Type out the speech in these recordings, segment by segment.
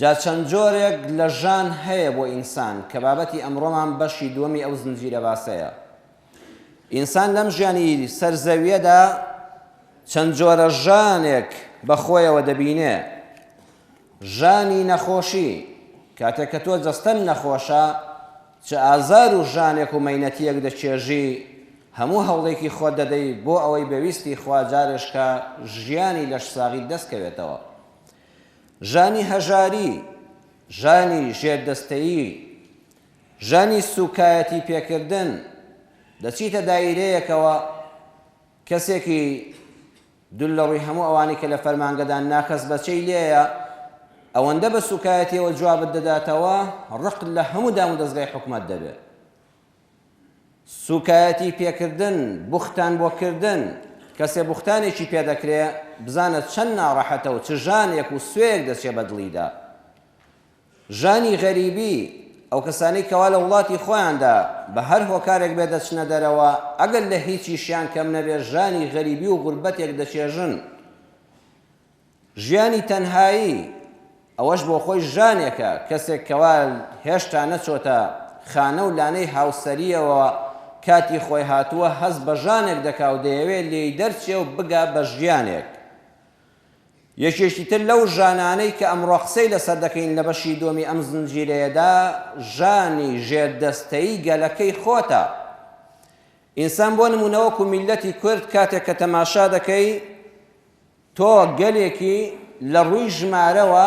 جا چەند جۆرێک لە ژان هەیە بۆ ئینسان کە بابەتی ئەمڕۆمان بەشی دووەمی ئەو زنجیرە باسەیە. ئینسان لەم ژیانی سەر زەویەدا چەند جۆرە ژانێک بە خۆیەوە دەبینێ. ژانی نەخۆشی کاتێک کە تۆ جەستەن نەخۆشە چ ئازار و ژانێک و مەینەتیەک دەچێژی هەموو هەوڵێکی خۆت دەدەی بۆ ئەوەی بەویستی خوا جارێشکە ژیانی لەش ساغیت دەستکەوێتەوە. ژانی هەژاری، ژانی ژێردەستەیی، ژانی سووکایەتی پێکردن، دەچیتە دایرەیەکەوە کەسێکی دول لە ڕووی هەموو ئەوانەی کە لە فەرمانگەدان ناکەس بەچەی لێیە، ئەوەندە بە سووکایەتییەوە جوابت دەداتەوە، ڕق لە هەموو دامودەزگای حکومەت دەبێ. سوکایەتی پێکردن، بوختان بۆ کردن، کەسێ بوختانێکی پێ دەکرێ بزانە چەند ناڕەحەتە و چ ژانێک و سوێیەک دەچێ بە دڵیدا. ژانی غەریبی، ئەو کەسانەی کەوا لە وڵاتی خۆیاندا بە هەر هۆکارێک بێ دەچنە دەرەوە ئەگەر لە هیچیشیان کەم نەبێ ژانی غەریبی و غوربەتێک دەچێژن. ژیانی تەنهایی، ئەوەش بۆ خۆی ژانێکە، کەسێک کەوا هێشتا نەچۆتە خانە و لانەی هاوسەرییەوە کاتی خۆی هاتووە، هەست بە ژانێک دەکا و دەیەوێ لێی دەرچێ و بگا بە ژیانێک. یەکێکی تر لەو ژانانەی کە ئەمڕۆ قسەی لەسەر دەکەین لە بەشی دووەمی ئەم زنجیرەیەدا، ژانی ژێردەستەیی گەلەکەی خۆتە. ئینسان بۆ نموونە وەکوو میللەتی کورد کاتێک کە تەماشا دەکەی، تۆ گەلێکی لە ڕووی ژمارەوە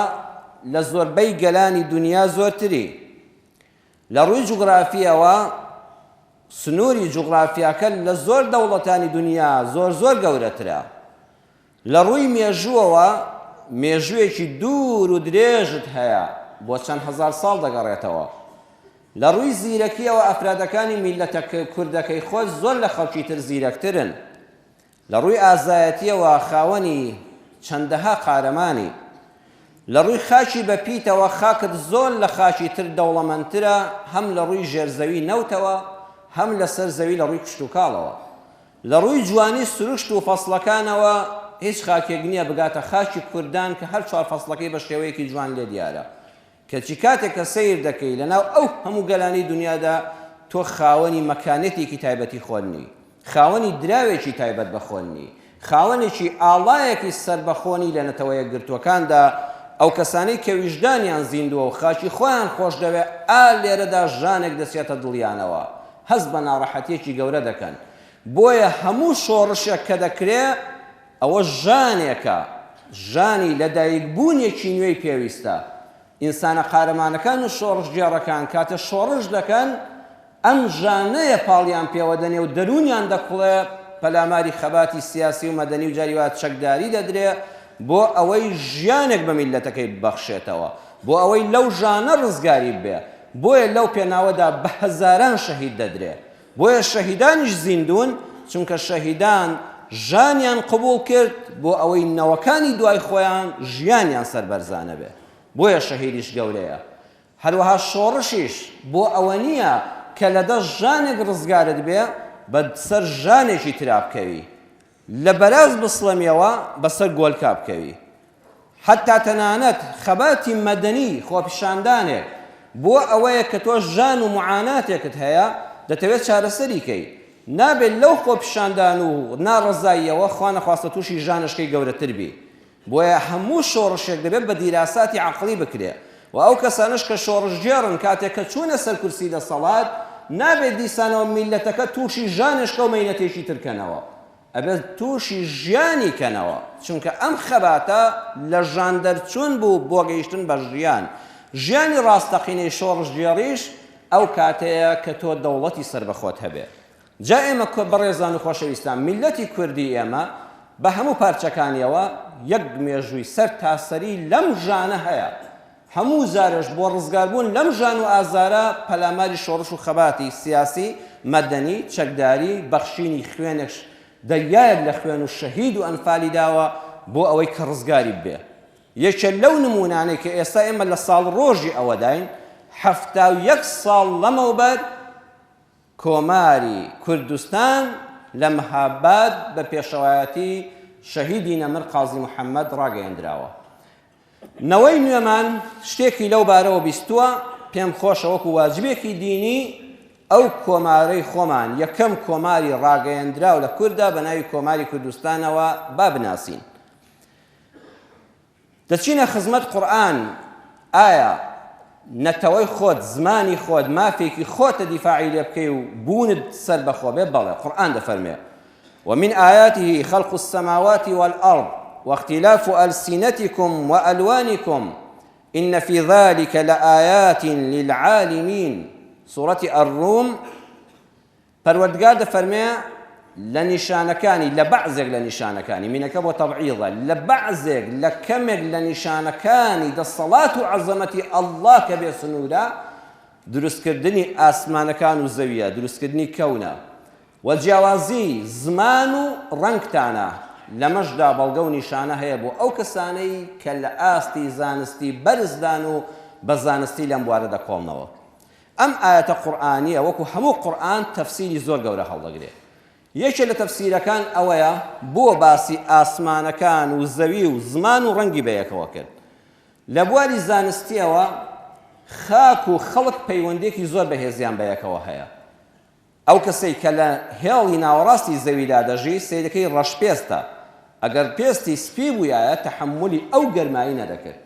لە زۆربەی گەلانی دونیا زۆرتری. لە ڕووی جوگرافییەوە سنووری جوگرافیاکە لە زۆر دەوڵەتانی دونیا زۆر زۆر گەورەترە. لە ڕووی مێژووەوە مێژووێکی دوور و درێژت هەیە بۆ چەند هەزار ساڵ دەگەڕێتەوە. لە ڕووی زیرەکییەوە ئەفرادەکانی میللەتە کوردەکەی خۆت زۆر لە خەڵکی تر زیرەکترن. لە ڕووی ئازایەتییەوە خاوەنی چەندەها قارەمانی. لە ڕووی خاکی بە پیتەوە خاکت زۆر لە خاکی تر دەوڵەمەندترە هەم لە ڕووی ژێر زەوی نەوتەوە هەم لە سەر زەوی لە ڕووی کشتوکاڵەوە. لە ڕووی جوانی سروشت و فەسڵەکانەوە هیچ خاکێک نییە بگاتە خاکی کوردان کە هەر چوار فەسڵەکەی بە شێوەیەکی جوان لێ دیارە. کەچی کاتێک کە سەیر دەکەی لەناو ئەو هەموو گەلانەی دونیادا تۆ خاوەنی مەکانەتێکی تایبەتی خۆت نی، خاوەنی دراوێکی تایبەت بە خۆت نی، خاوەنێکی ئاڵایەکی سەربەخۆ نی لە نەتەوە یەکگرتووەکاندا، ئەو کەسانەی کە ویژدانیان زیندووە و خاکی خۆیان خۆشدەوێت ئا لێرەدا ژانێک دەچێتە دڵیانەوە هەست بە ناڕەحەتییەکی گەورە دەکەن بۆیە هەموو شۆڕشێک کە دەکرێت ئەوە ژانێکە، ژانی لەدایکبوونێکی نوێی پێویستە. ئینسانە قارەمانەکان و شۆڕشگێڕەکان کاتێ شۆڕش دەکەن، ئەم ژانەیە پاڵیان پێوە دەنێ و دەروونیان دەکوڵێ، پەلاماری خەباتی سیاسی و مەدەنی و جاری وا چەکداری دەدرێ بۆ ئەوەی ژیانێک بە میللەتەکەی ببەخشێتەوە، بۆ ئەوەی لەو ژانە ڕزگاری ببێ. بۆیە لەو پێناوەدا بە هەزاران شەهید دەدرێ بۆیە شەهیدانیش زیندوون، چونکە شەهیدان ژانیان قبوڵ کرد بۆ ئەوەی نەوەکانی دوای خۆیان ژیانیان سەربەرزانە بێ، بۆیە شەهیدیش گەورەیە. هەروەها شۆڕشیش بۆ ئەوە نییە کە لە دەست ژانێک ڕزگارت بێ بە سەر ژانێکی ترا بکەوی، لە بەراز بسڵەمیەوە بەسەر گۆلکا بکەوی حەتا تەنانەت خەباتی مەدەنی خۆپیشاندانێک بۆ ئەوەیە کە تۆ ژان و معاناتێکت هەیە دەتەوێت چارەسەری کەی نابێت لەو خۆپیشاندان و ناڕەزاییەوە خوانەخواستە تووشی ژانەشکەی گەورەتر بی بۆیە هەموو شۆڕشێک دەبێت بە دیراساتی عەقڵی بکرێت و ئەو کەسانەش کە شۆڕشگێڕن کاتێک کە چوونە سەر کورسی دەسەڵات نابێت دیسانەوە میللەتەکە تووشی ژانێشکە و مەینەتێکی تر کەنەوە ئەبێت تووشی ژیانی کەنەوە چونکە ئەم خەباتە لە ژان دەرچوون بوو بۆ گەیشتن بە ژیان ژیانی ڕاستەقینەی شۆڕشگێڕیش ئەو کاتەیە کە تۆ دەوڵەتی سەربەخۆت هەبێت. جا ئێمە کۆ بەڕێزان و خۆشەویستان میللەتی کوردی ئێمە بە هەموو پارچەکانیەوە یەک مێژووی سەر تا سەری لەم ژانە هەیە هەموو جارێش بۆ ڕزگار بوون لەم ژان و ئازارە پەلاماری شۆڕش و خەباتی سیاسی، مەدەنی، چەکداری، بەخشینی خوێنێک دەریایەک لە خوێن و شەهید و ئەنفالی داوە بۆ ئەوەی کە ڕزگاری ببێ یەکێ لەو نموونانەی کە ئێستا ئێمە لە ساڵ ڕۆژی ئەوەداین حەفتا و یەک ساڵ لەمەوبەر کۆماری کوردستان لە مهاباد بە پێشەوایەتی شەهیدی نەمر قازی محەمەد ڕاگەیەندراوە. نەوەی نوێمان شتێکی لەو بارەوە بیستووە، پێم خۆشە وەکو واجبێکی دینی ئەو کۆمارەی خۆمان یەکەم کۆماری ڕاگەیەندراو لە کوردا بە ناوی کۆماری کوردستانەوە با بناسین. دەچینە خزمەت قورئان ئایا نەتەوەی خۆت زمانی خۆت مافێکی خۆتە دیفاعی لێ بکەی و بوونت سەربەخۆ بێ بەڵێ قورئان دەفەرمێ ومن آیاته خلق السماوات والأرض واختلاف ألسنتكم وألوانكم إن في ذلك لآيات للعالمين سورة الروم پەروەردگار دەفەرمێ لە نیشانەکانی لە بەعزێک لە نیشانەکانی مینەکە بۆ تەبعیضە لە بەعزێک لە کەمێک لە نیشانەکانی دەسەڵات و عەزەمەتی ئەڵڵا کە بێ سنوورە دروستکردنی ئاسمانەکان و زەویە دروستکردنی کەونە و جیاوازی زمان و ڕەنگتانە لەمەشدا بەڵگە و نیشانە هەیە بۆ ئەو کەسانەی کە لە ئاستی زانستی بەرزدان و بە زانستی لەم بوارە دەکۆڵنەوە ئەم ئایەتە قورئانیە وەکو هەموو قورئان تەفسیری زۆر گەورە هەڵدەگرێ یەکێ لە تەفسیرەکان ئەوەیە بۆ باسی ئاسمانەکان و زەوی و زمان و ڕەنگی بەیەکەوە کرد لە بواری زانستیەوە خاک و خەڵک پەیوەندێکی زۆر بەهێزیان بەیەکەوە هەیە ئەو کەسەی کە لە هێڵی ناوەڕاستی زەویدا دەژی سیرەکەی ڕەشپێستە ئەگەر پێستی سپی بوویایە تەحملی ئەو گەرمایی نەدەکرد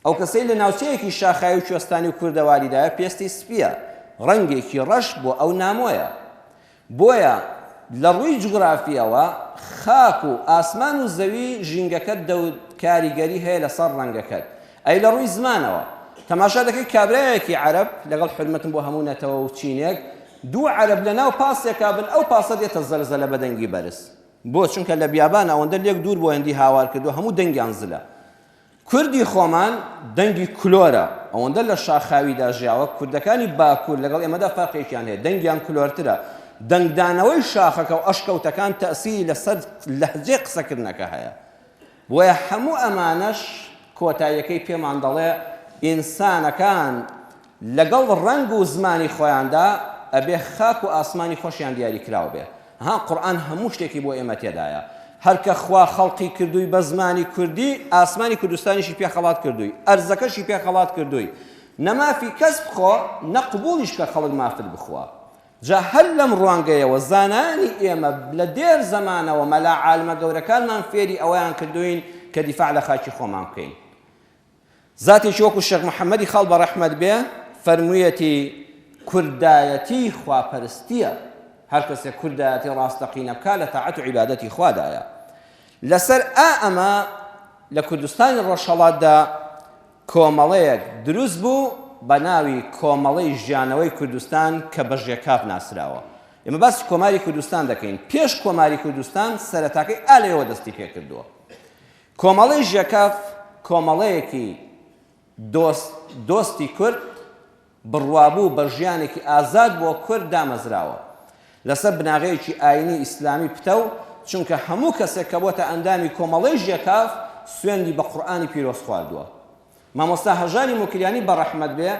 ئەو کەسەی لە ناوچەیەکی شاخاوی و کوێستانی و کوردەواریدایە پێستی سپییە، ڕەنگێکی ڕەش بۆ ئەو نامۆیە. بۆیە لە ڕووی جوگرافییەوە خاک و ئاسمان و زەوی ژینگەکەت دەوت کاریگەری هەیە لەسەر ڕەنگەکەت. ئەی لە ڕووی زمانەوە؟ تەماشا دەکەی کابرایەکی عەرەب، لەگەڵ حورمەتم بۆ هەموو نەتەوە و چینێک، دوو عەرەب لەناو پاسێکا بن، ئەو پاسە دێتە زەلزەلە بە دەنگی بەرز. بۆ؟ چونکە لە بیابان ئەوەندە لێک دوور بۆیەندی هاوار کردووە هەموو دەنگیان زلە. کوردی خۆمان دەنگی کلۆرە، ئەوەندە لە شاخاویدا ژیاوە، کوردەکانی باکوور لەگەڵ ئێمەدا فەرقێکیان هەیە، دەنگیان کلۆرترە، دەنگدانەوەی شاخەکە و ئەشکەوتەکان تەئسیری لەسەر لەهجەی قسەکردنەکە هەیە، بۆیە هەموو ئەمانەش کۆتاییەکەی پێمان دەڵێ ئینسانەکان، لەگەڵ ڕەنگ و زمانی خۆیاندا ئەبێ خاک و ئاسمانی خۆشیان دیاری کراو بێ ها قورئان هەموو شتێکی بۆ ئێمە تێدایە هەر کە خوا خەڵقی کردووی بە زمانی کوردی ئاسمانی کوردستانیشی پێ خەڵات کردووی ئەرزەکەشی پێ خەڵات کردووی نە مافی کەس بخۆ نە قبوڵیش کە خەڵک مافت بخوا جا هەر لەم ڕوانگەیەوە زانانی ئێمە لە دێر زەمانەوە مەلا عالمە گەورەکانمان فێری ئەوەیان کردووین کە دیفاع لە خاکی خۆمان بکەین زاتێکی وەکو شێخ محەمەدی خاڵ بەڕەحمەت بێ فەرموویەتی، کوردایەتی خواپەرستییە، هەر کەسێک کوردایەتی ڕاستەقینە بکا لە تاعەت و عیبادەتی خوادایە. لەسەر ئا ئەمە لە کوردستانی ڕۆژهەڵاتدا کۆمەڵەیەک دروست بوو بە ناوی کۆمەڵەی ژیانەوەی کوردستان کە بە ژێکاف ناسراوە. ئێمە باسی کۆماری کوردستان دەکەین. پێش کۆماری کوردستان سەرەتاکەی ئا لەوێوە دەستی پێ کردووە. کۆمەڵەی ژێکاف کۆمەڵەیەکی دۆست دۆستی کورد بڕوابوو بە ژیانێکی ئازاد بۆ کورد دامەزراوە لەسەر بناغەیەکی ئاینی ئیسلامی پتەو چونکە هەموو کەسێک کە بۆتە ئەندامی کۆمەڵەی ژێکاف سوێندی بە قورئانی پیرۆز خواردووە مامۆستا هەژاری موکریانی بە ڕەحمەت بێ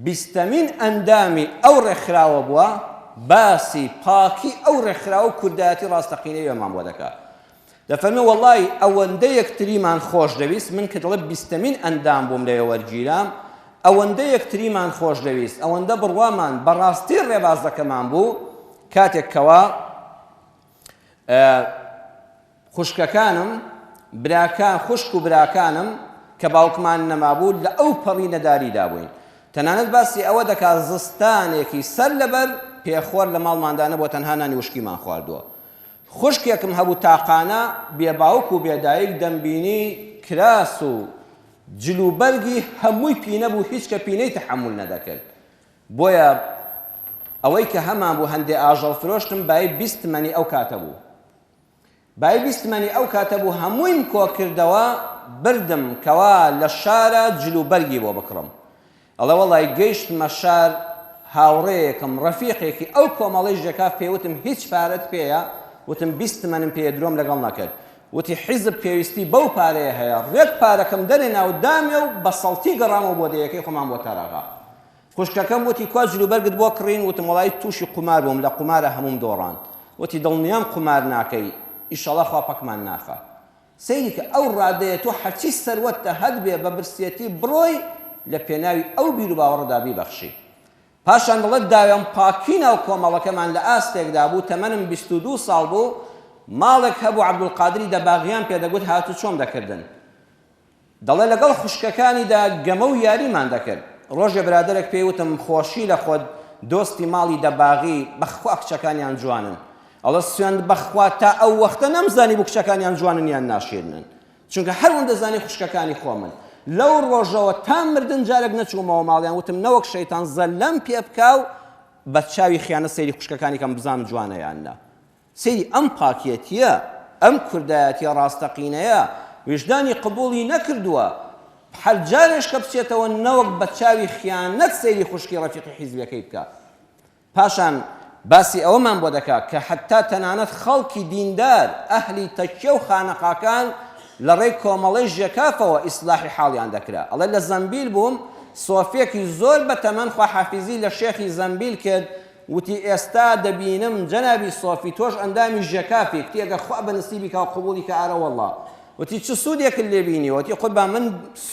بیستەمین ئەندامی ئەو ڕێکخراوە بووە باسی پاکی ئەو ڕێکخراوە و کوردایەتی ڕاستەقینەی ئێمەمان بۆ دەکا دەفەرمێ وەڵڵاهی ئەوەندە یەکتریمان خۆش دەویست من کە دەڵێ بیستەمین ئەندام بووم لەوێ وەرگیرام ئەوەندە یەکتریمان خۆش دەویست ئەوەندە بڕوامان بە ڕاستی ڕێبازەکەمان بوو کاتێک کەوا خوشکەکانم براکان خوشک و براکانم کە باوکمان نەمابوو لە ئەو پەڕی نەداریدا بووین تەنانەت باسی ئەوە دەکات زستانێکی سەر لەبەر پێخۆر لە ماڵماندانە بۆ تەنها نانی وشکیمان خواردووە خوشکێکم هەبوو تاقانە بێ باوک و بێ دایک دەمبینی کراس و جل و بەرگی هەمووی پینە بوو هیچ کە پینەی تەحەمول نەدەکرد بۆیە ئەوەی کە هەمان بوو هەندێ ئاژەڵ فرۆشتم بایی بیست تمەنی ئەو کاتە بوو بایی بیست تمەنی ئەو کاتە بوو هەموویم کۆکردەوە بردم کەوا لە شارە جل و بەرگی بۆ بکڕم ئەڵێ وەڵای گەیشتمە شار هاوڕێیەکم ڕەفیقێکی ئەو کۆمەڵەی ژێکاف پێی وتم هیچ پارەت پێیە وتم بیست تمەنم پێیە درۆم لەگەڵ نەکرد وتی حیزب پێویستی بەو پارەیە هەیە ڕێک پارەکەم دەرێنا و دامێ و بە سەڵتی گەڕامەوە بۆ دێیەکەی خۆمان بۆ تاراغا خوشکەکەم وتی کوا جلوبەرگت بۆ کڕین وتم وەڵای تووشی قومار بووم لە قومارە هەمووم دۆڕاند وتی دڵنیام قومار ناکەی ئیشەڵا خوا پەکمان ناخا سەیرکە ئەو ڕادەیە تۆ هەرچی سەروەتتە هەتبێ بە برسیەتی بڕۆی لە پێناوی ئەو بیروباوەڕەدا بیبەخشی. پاشان دەڵێت داوێن پاکی ناو کۆمەڵەکەمان لە ئاستێکدا بوو تەمەنم بیست و دوو ساڵ بوو ماڵێک هەبوو عەبدولقادری دەباغیان پێدەگوت هاتوچۆم دەکردن. دەڵێت لەگەڵ خوشکەکانیدا گەمە و یاریمان دەکرد، ڕۆژێ برادەرێک پێی وتم خۆشی لە خۆت دۆستی ماڵی دەباغی، بەخوا کچەکانیان جوانن، ئەڵێت سوێند بەخوا تا ئەو وەختە نەمزانیبوو کچەکانیان جوانن یان ناشیرنن، چونکە هەر ون دەزانی خوشکەکانی خۆمن، لەو ڕۆژەوە تا مردن جارێک نەچوومەوە ماڵیان، وتم نەوەک شەیتان زەللەم پێبکا و بە چاوی خیانەت سەیری خوشکەکانی کەم بزانم جوانە یان نا. سەیری ئەم پاکێتییە، ئەم کوردایەتیە ڕاستەقینەیە، ویژدانی قبوڵی نەکردووە، هەر جارێش کە بچێتەوە نەوەک بە چاوی خیانەت سەیری خوشکی ڕەفیقی حیزبیەکەی بکا. پاشان باسی ئەوەمان بۆ دەکا کە حەتتا تەنانەت خەڵکی دیندار، ئەهلی تەکیە و خانەقاکان لە ڕێی کۆمەڵەی ژێکافەوە ئیسلاحی حاڵیان دەکرا. ئەڵێ لە زەمبیل بووم، سۆفێکی زۆر بە تەمەن خواحافیزی لە شێخی زەمبیل کرد، وتی، ئێستا دەبینم جەنابی سۆفی تۆش ئەندامی ژێکافی، وتی، ئەگەر خوا بە نسیبی کا و قبووڵی کا ئارەوەڵڵا، وتی، چ سوودێکت لێ بینیوە؟ وتی، قوربان من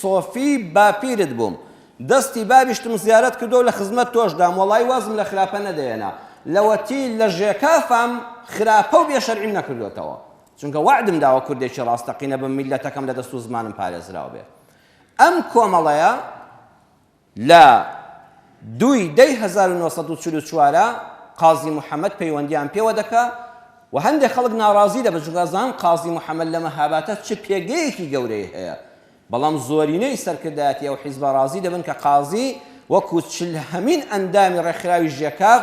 سۆفی باپیرت بووم، دەستی بابیشتم زیارەت کردووە و لە خزمەت تۆش دام، وەڵڵایی وازم لە خراپە نەدەهێنا، لەوەتی لە ژێکافام خراپە و بێ شەرعیم نەکردۆتەوە، چونکە وەعدم داوە کوردێکی ڕاستەقینە بم میللەتەکەم لە دەست و زمانم پارێزراو بێ. ئەم کۆمەڵەیە. لە دوو ی دە ی هەزار و نۆ سەد و چل و چوار قازی محەمەد پەیوەندیان پێوە دەکا و هەندێ خەڵک ناڕازی دەبن چونکە ئەزانن قازی محەمەد لە مەهابادە چ پێگەیەکی گەورەی هەیە بەڵام زۆرینەی سەرکردایەتی ئەو حیزبە ڕازی دەبن کە قازی وەکو چل هەمین ئەندامی ڕێکخراوی ژێکاف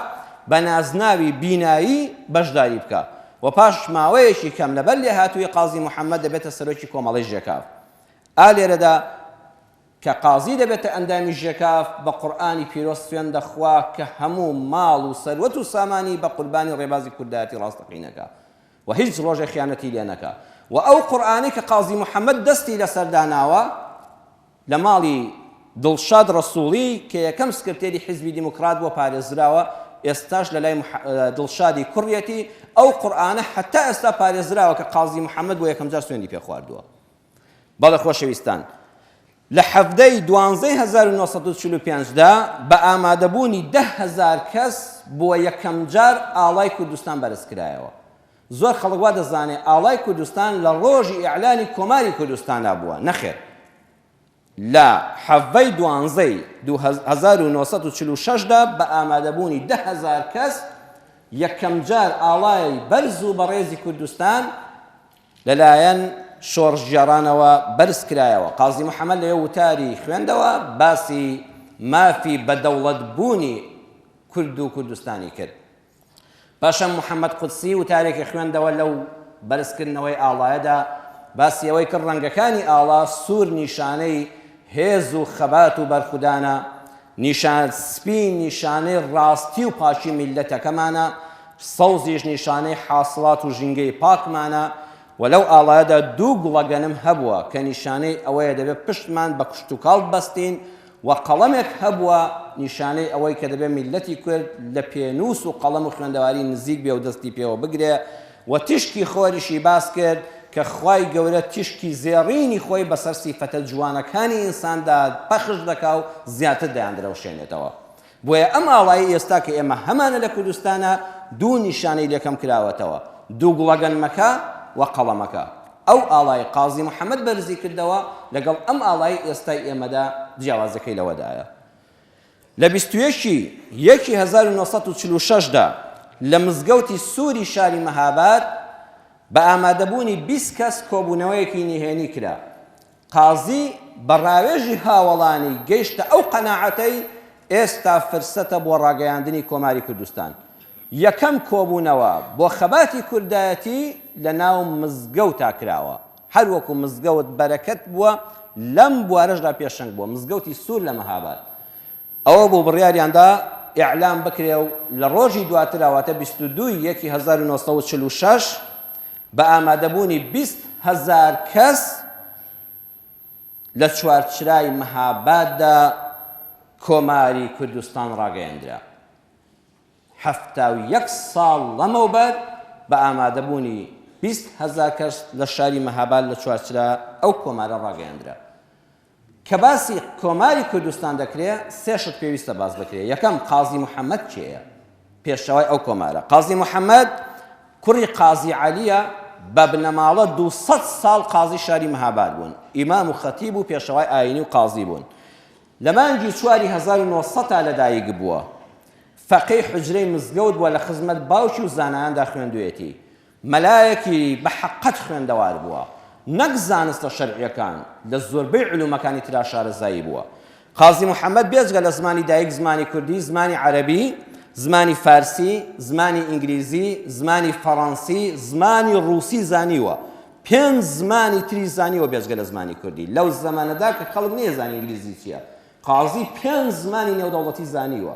بە نازناوی بینایی بەشداری بکا و پاش ماوەیەکی کەم لەبەر لێهاتوویی قازی محەمەد دەبێتە سەرۆکی کۆمەڵەی ژێکاف ئا لێرەدا کە قازی دەبێتە ئەندامی ژێکاف بە قورئانی پیرۆز سوێند دەخوا کە هەموو ماڵ و سەروەت و سامانی بە قوربانی ڕێبازی کوردایەتی ڕاستەقینەکە و هیچ ڕۆژێ خیانەتی لێ نەکا و ئەو قورئانەی کە قازی محەمەد دەستی لەسەر داناوە لە ماڵی دڵشاد ڕەسوڵی کە یەکەم سکرتێری حیزبی دیموکرات بووە پارێزراوە ئێستاش لە لای دڵشادی کوڕیەتی ئەو قورئانە هەتا ئێستا پارێزراوە کە قازی محەمەد بۆ یەکەمجار سوێندی پێ خواردووە. بەڵێ خۆشەویستان، لە حەڤدە ی دوانزەی هەزار و نۆ سەد و چل و پێنج دا بە ئامادەبوونی دە هەزار کەس بۆ یەکەم جار ئاڵای کوردستان بەرزکرایەوە. زۆر خەڵک وا دەزانێ ئاڵای کوردستان لە ڕۆژی ئیعلانی کۆماری کوردستانا بووە، نەخێر. لە حەڤەی دوانزەی دوو هەزار و نۆ سەد و چل و شەش دا بە ئامادەبوونی دە هەزار کەس یەکەمجار ئاڵای بەرز و بەڕێزی کوردستان لەلایەن شۆڕشگێڕانەوە بەرزکرایەوە. قازی محەمەد لە یەو وتاری خوێندەوە باسی مافی بەدەوڵەتبوونی کورد و کوردستانی کرد. پاشان محەمەد قودسی وتارێکی خوێندەوە لەو بەرزکردنەوەی ئاڵایەدا باسی ئەوەی کرد ڕەنگەکانی ئاڵا سوور نیشانەی هێز و خەبات و بەرخودانە، نیشان سپی نیشانەی ڕاستی و پاکی میللەتەکەمانە، سەوزیش نیشانەی حاسڵات و ژینگەی پاکمانە و لەو ئاڵایەدا دوو گوڵەگەنم هەبووە کە نیشانەی ئەوەیە دەبێت پشتمان بە کشتوکاڵ ببەستین و قەڵەمێک هەبووە نیشانەی ئەوەی کە دەبێ میللەتی کورد لە پێنووس و قەڵەم و خوێندەواری نزیک بێ و دەستی پێوە بگرێ و تیشکی خۆریشی باس کرد کە خوای گەورە تیشکی زێڕینی خۆی بەسەر سیفەتە جوانەکانی ئینساندا پەخش دەکا و زیاتر دەیاندرەوشێنێتەوە بۆیە ئەم ئاڵای ئێستا کە ئێمە هەمانە لە کوردستانا دوو نیشانەی لێ کەم کراوەتەوە، دوو گوڵەگەنمەکە و قەڵەمەکە. ئەو ئاڵای قازی محەمەد بەرزی کردەوە لەگەڵ ئەم ئاڵای ئێستای ئێمەدا جیاوازیەکەی لەوەدایە لە بیست و یەک ی یەکی هەزار و نۆ سەد و چل و شەش دا لە مزگەوتی سوری شاری مەهاباد بە ئامادەبوونی بیست کەس کۆبوونەوەیەکی نهێنی کرا قازی، بە ڕاوێژی هاوەڵانی گەیشتە ئەو قەناعەتەی ئێستا فرسەتە بۆ ڕاگەیاندنی کۆماری کوردستان. یەکەم کۆبوونەوە بۆ خەباتی کوردایەتی لە ناو مزگەوتا کراوە. هەر وەکوو مزگەوت بەرەکەت بووە لەم بوارەشدا پێشەنگ بووە، مزگەوتی سوور لە مەهاباد. ئەوە بوو بڕیاریان دا ئیعلام بکرێ و لە ڕۆژی دواترا واتە بیست و دوو ی یەکی هەزار و نۆ سەد و چل و شەش بە ئامادەبوونی بیست هەزار کەس لە چوارچرای مەهاباددا کۆماری کوردستان ڕاگەیەندرا. حەفتا و یەک ساڵ لەمەوبەر بە ئامادەبوونی بیست هەزار کەس لە شاری مەهاباد لە چوارچرا ئەو کۆمارە ڕاگەیەندرا. کە باسی کۆماری کوردستان دەکرێ سێ شت پێویستە باس بکرێ یەکەم قازی محەمەد کێیە پێشەوای ئەو کۆمارە قازی محەمەد کوڕی قازی عەلیە بە بنەماڵە دو سەد ساڵ قازی شاری مهاباد بوون ئیمام و خەتیب و پێشەوای ئاینی و قازی بوون لە مانگی چواری 1970 تا لەدایک بووە فەقەی حجرەی مزگەوت بووە لە خزمەت باوکی و زانایاندا خوێندوێتی مەلایەکی بە حەقەت خوێندەوار بووە، نەک زانستە شەرعییەکان، لە زۆربەی علومەکانی ترا شارەزایی بووە. قازی محەمەد بێجگە لە زمانی دایک زمانی کوردی، زمانی عەرەبی، زمانی فارسی، زمانی ئینگلیزی، زمانی فەڕەنسی، زمانی ڕووسی زانیوە. پێنج زمانی تری زانیوە بێجگە لە زمانی کوردی. لەو زەمەنەدا کە خەڵک نەیەزانی ئینگلیزی چییە، قازی پێنج زمانی نێودەوڵەتی زانیوە.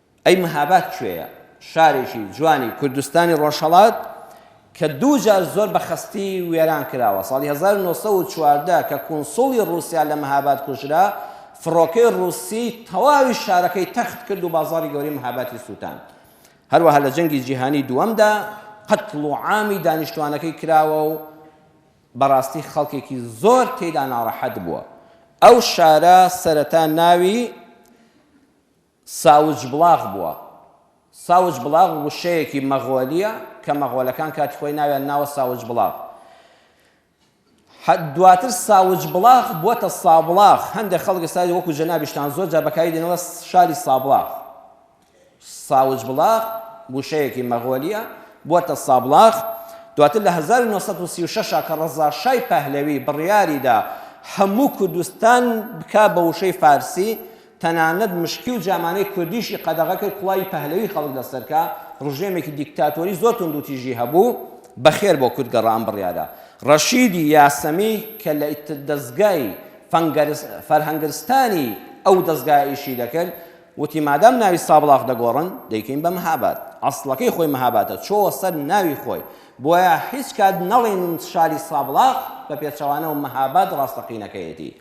ئەی مهاباد کوێیە؟ شارێکی جوانی کوردستانی ڕۆژهەڵات کە دوو جار زۆر بە خەستی وێران کراوە. ساڵی هەزار و نۆ سەد و چواردە کە کونسوڵی ڕووسیا لە مهاباد کوژرا، فڕۆکەی ڕووسی تەواوی شارەکەی تەخت کرد و بازاڕی گەورەی مهابادی سووتاند. هەروەها لە جەنگی جیهانیی دووەمدا قەتڵ و عامی دانیشتووانەکەی کراوە و بەڕاستی خەڵکێکی زۆر تێیدا ناڕەحەت بووە. ئەو شارە سەرەتا ناوی. ساوجبڵاغ بووە ساوجبڵاغ وشەیەکی مەغۆلییە کە مەغۆلەکان کاتی خۆی ناویان ناوە ساوجبڵاغ حە دواتر ساوجبڵاغ بووەتە سابڵاغ هەندێک خەڵک ئێستا وەکو جەنابیشتان زۆر جار بەکاری دێنەوە شاری سابڵاغ ساوجبڵاغ وشەیەکی مەغۆلییە بووەتە سابڵاغ دواتر لە هەزار و نۆ سەد و سی و شەش کە ڕەزا شای پەهلەوی بڕیاریدا هەموو کوردستان بکا بە وشەی فارسی تەنانەت مشکی و جامانەی کوردیشی قەدەغە کرد، کڵاوی پەهلەوی خەڵک لەسەر کا، ڕژێمێکی دیکتاتۆری زۆر توندوتیژی هەبوو، بەخێر بۆ کورد گەڕا ئەم بڕیارە. ڕەشیدی یاسەمی کە لە دەزگای فەرهەنگرستانی ئەو دەزگایە ئیشی دەکرد، وتی مادام ناوی سابڵاغ دەگۆڕن، دەیکەین بە مهاباد. ئەسڵەکەی خۆی مهابادە، چۆوە سەر ناوی خۆی. بۆیە هیچ کات نەڵێن شاری سابڵاغ، بە پێچەوانەوە مهاباد ڕاستەقینەکەیەتی.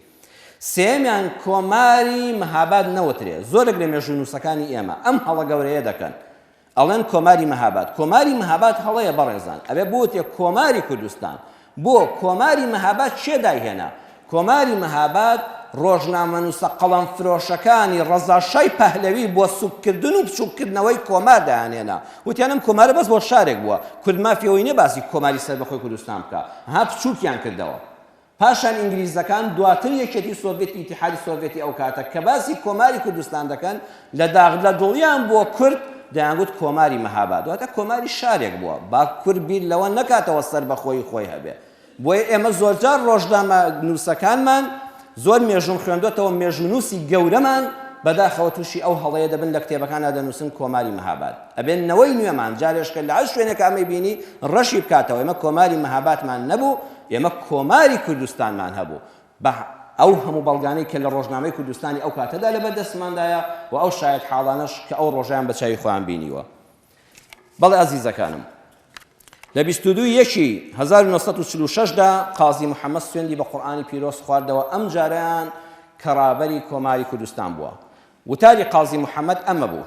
سێیەمیان کۆماری مهاباد نەوترێ، زۆرێک لە مێژوونووسەکانی ئێمە ئەم هەڵە گەورەیە دەکەن، ئەڵێن کۆماری مهاباد، کۆماری مهاباد هەڵەیە بەڕێزان، ئەبێ بوترێ کۆماری کوردستان، بۆ کۆماری مهاباد کێ دایهێنا؟ کۆماری مهاباد ڕۆژنامەنووسە قەڵەمفرۆشەکانی ڕەزا شای پەهلەوی بۆ سوککردن و بچووککردنەوەی کۆمار دایانهێنا، وتیان ئەم کۆمارە بەس بۆ شارێک بووە، کورد مافی ئەوەی نییە باسی کۆماری سەربەخۆی کوردستان بکا، ها بچووکیان کردەوە، پاشان ئینگلیزەکان، دواتر یەکێتی سۆڤێتی ئیتیحادی سۆڤێتی ئەو کاتە، کە باسی کۆماری کوردستان دەکەن، لە داخ لە دڵیان بووە کورد، دەیانگوت کۆماری مهاباد، واتە کۆماری شارێک بووە، با کورد بیر لەوە نەکاتەوە سەربەخۆیی خۆی هەبێ. بۆیە ئێمە زۆرجار ڕۆژنامە نووسەکانمان، زۆر مێژووم خوێندۆتەوە، مێژوونووسی گەورەمان بەداخەوە تووشی ئەو هەڵەیە دەبن لە کتێبەکاندا دەنووسن کۆماری مهاباد. ئەبێ نەوەی نوێمان جارێشکە لە هەر شوێنێکە ئەمەی بینی ڕەشی بکاتەوە، ئێمە کۆماری مهابادمان نەبوو، ئێمە کۆماری کوردستانمان هەبوو بە ئەو هەموو بەڵگانەی کە لە ڕۆژنامەی کوردستانی ئەو کاتەدا لەبەر دەستماندایە و ئەو شایەتحاڵانەش کە ئەو ڕۆژەیان بە چاوی خۆیان بینیوە. بەڵێ ئازیزەکانم، لە بیست و دوو یەکی هەزار و نۆ سەد و چل و شەش دا قازی محەممەد سوێندی بە قورئانی پیرۆز خواردەوە ئەم جارەیان کە ڕابەری کۆماری کوردستان بووە. وتاری قازی محەممەد ئەمە بوو،